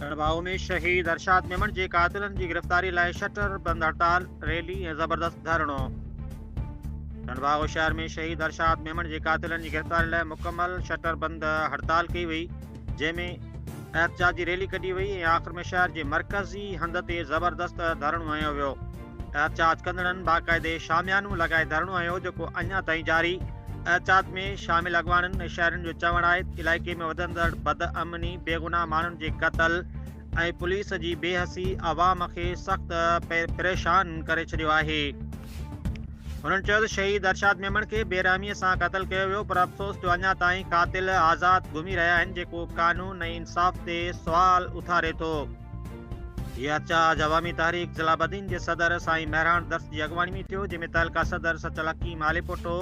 ڌڻڀائو ۾ شهيد ارشاد ميمڻ جي قاتلن جي گرفتاري لاء شٽر بند هڙتال ريلي ۽ زبردست ڌرڻو ڌڻڀائو شهر ۾ شهيد ارشاد ميمڻ جي قاتلن جي گرفتاري لاء مڪمل شٽر بند هڙتال ڪئي وئي جنهن ۾ احتجاجي ريلي ڪڍي وئي ۽ آخر ۾ شهر جي مرڪزي هنڌ تي زبردست ڌرڻو هنيو ويو. احتجاج ڪندڙن باقاعدي شاميانو لڳائي ڌرڻو هنيو جيڪو اڃا تائين جاري. احتجاج ۾ شامل اڳواڻن ۽ شهرين جو چوڻ آهي ته علائقي ۾ وڌندڙ بدامني، بيگناهه ماڻهن جي قتل، ۽ پوليس جي بي حسي عوام کي سخت پريشان ڪري ڇڏيو آهي هنن چيو ته شهيد ارشاد ميمڻ کي بيرحمي سان قتل ڪيو ويو پر افسوس جو اڃا تائين قاتل آزاد گهمي رهيا آهن جيڪو قانون ۽ انصاف تي سوال اٿاري ٿو هي احتجاج عوامي تحريڪ ضلع بدين جي صدر سائين مهراڻ درس جي اڳواڻي ۾ ٿيو جنهن ۾ تعلقه صدر سچل حڪيم آليپوٽو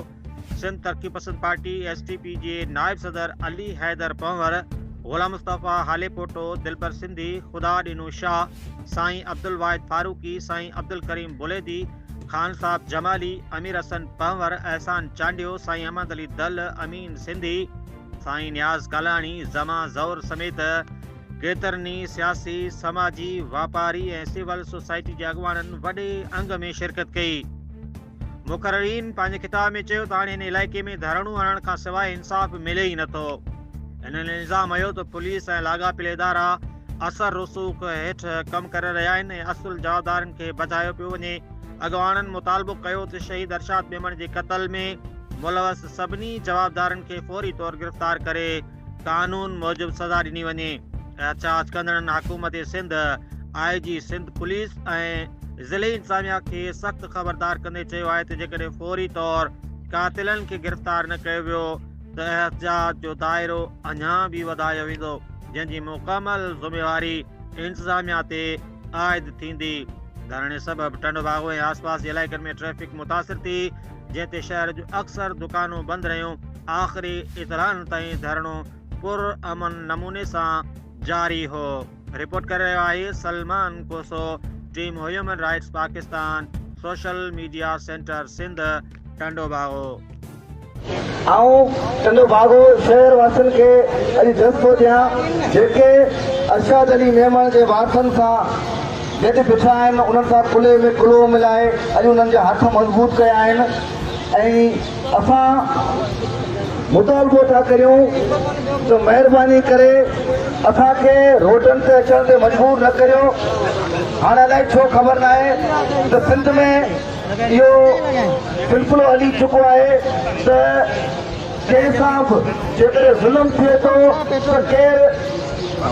سنڌ ترقي پسند پارٽي، ايس ٽي پي، جي نائب صدر علي حيدر پنهور، غلام مصطفيٰ هاليپوٽو، دلبر سنڌي، خدا ڏينو شاهه، سائين عبدالواحد فاروقي، سائين عبدالڪريم بليدي، خان صاحب جمالي، امير حسن پنهور، احسان چانڊيو، سائين احمد علي دل، امين سنڌي، سائين نياز ڪالاڻي، زمان زئور سميت ڪيترن ئي سياسي، سماجي، واپاري ۽ سول سوسائٽي جي اڳواڻن وڏي انگ ۾ شرڪت ڪئي. مقررين پنهنجي خطاب ۾ چيو ته هاڻي هن علائقي ۾ ڌرڻو هڻڻ کان سواء انصاف ملي ئي نٿو هنن الزام هيو ته پوليس ۽ لاڳاپيل ادارا اثر رسوخ هيٺ ڪم ڪري رهيا آهن ۽ اصل جوابدارن کي بچايو پيو وڃي اڳواڻن مطالبو ڪيو ته شهيد ارشاد ميمڻ جي قتل ۾ ملوث سڀني جوابدارن کي فوري طور گرفتار ڪري قانون موجب سزا ڏني وڃي، احتجاج ڪندڙن حڪومت سنڌ، آء جي سنڌ پوليس ۽ ضلعي انتظاميا کي سخت خبردار ڪندي چيو آهي ته جيڪڏهن فوري طور قاتلن کي گرفتار نه ڪيو ويو ته احتجاج جو دائرو اڃا به وڌايو ويندو جنهن جي مڪمل ذميواري انتظاميا تي عائد ٿيندي. ڌرڻي سبب ٽنڊو باگو ۽ آسپاس جي علائقن ۾ ٽريفڪ متاثر ٿي، جنهن تي شهر جون اڪثر دڪانون بند رهيون آخري اتران تائين ڌرڻو پر امن نموني سان جاري هو رپورٽ ڪري رهيو آهي Salman Koso team human rights Pakistan social media centre Sindh Tando Bagho آئون ٽنڊو باغو شهر واسين کي اڄ جذبو ڏيان جيڪي ارشاد علي ميمڻ جي وارثن سان جج بيٺا آهن انهن سان ڪلهي ۾ ڪلهو ملائي اڄ انهن جا هٿ مضبوط ڪيا آهن ۽ اسان مطالبو ٿا ڪريون ته مهرباني ڪري اسان کي روڊن تي اچڻ تي مجبور نه ڪريو هاڻ الائي ڇو خبر نه آهي ته سنڌ ۾ اهو سلسلو هلي چڪو آهي ته جنهن سان به جيڪڏهن ظلم ٿئي ٿو ته ڪير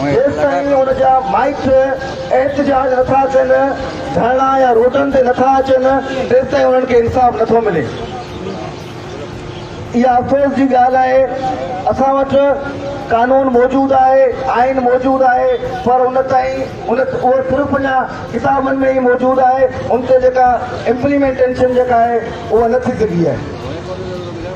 جيستائين ان جا مائٽ احتجاج نٿا ڪن، ڌرڻا يا روڊن تي نٿا اچن، تيستائين انهن کي انصاف نٿو ملي. اها افسوس جي ڳالهه آهي. اسان وٽ قانون موجود آهي، آئين موجود آهي پر ان تائين ان اهو صرف اڃا ڪتابن ۾ ئي موجود آهي، ان تي جيڪا امپليمينٽيشن جيڪا آهي اها نه ٿي سگهي آهي.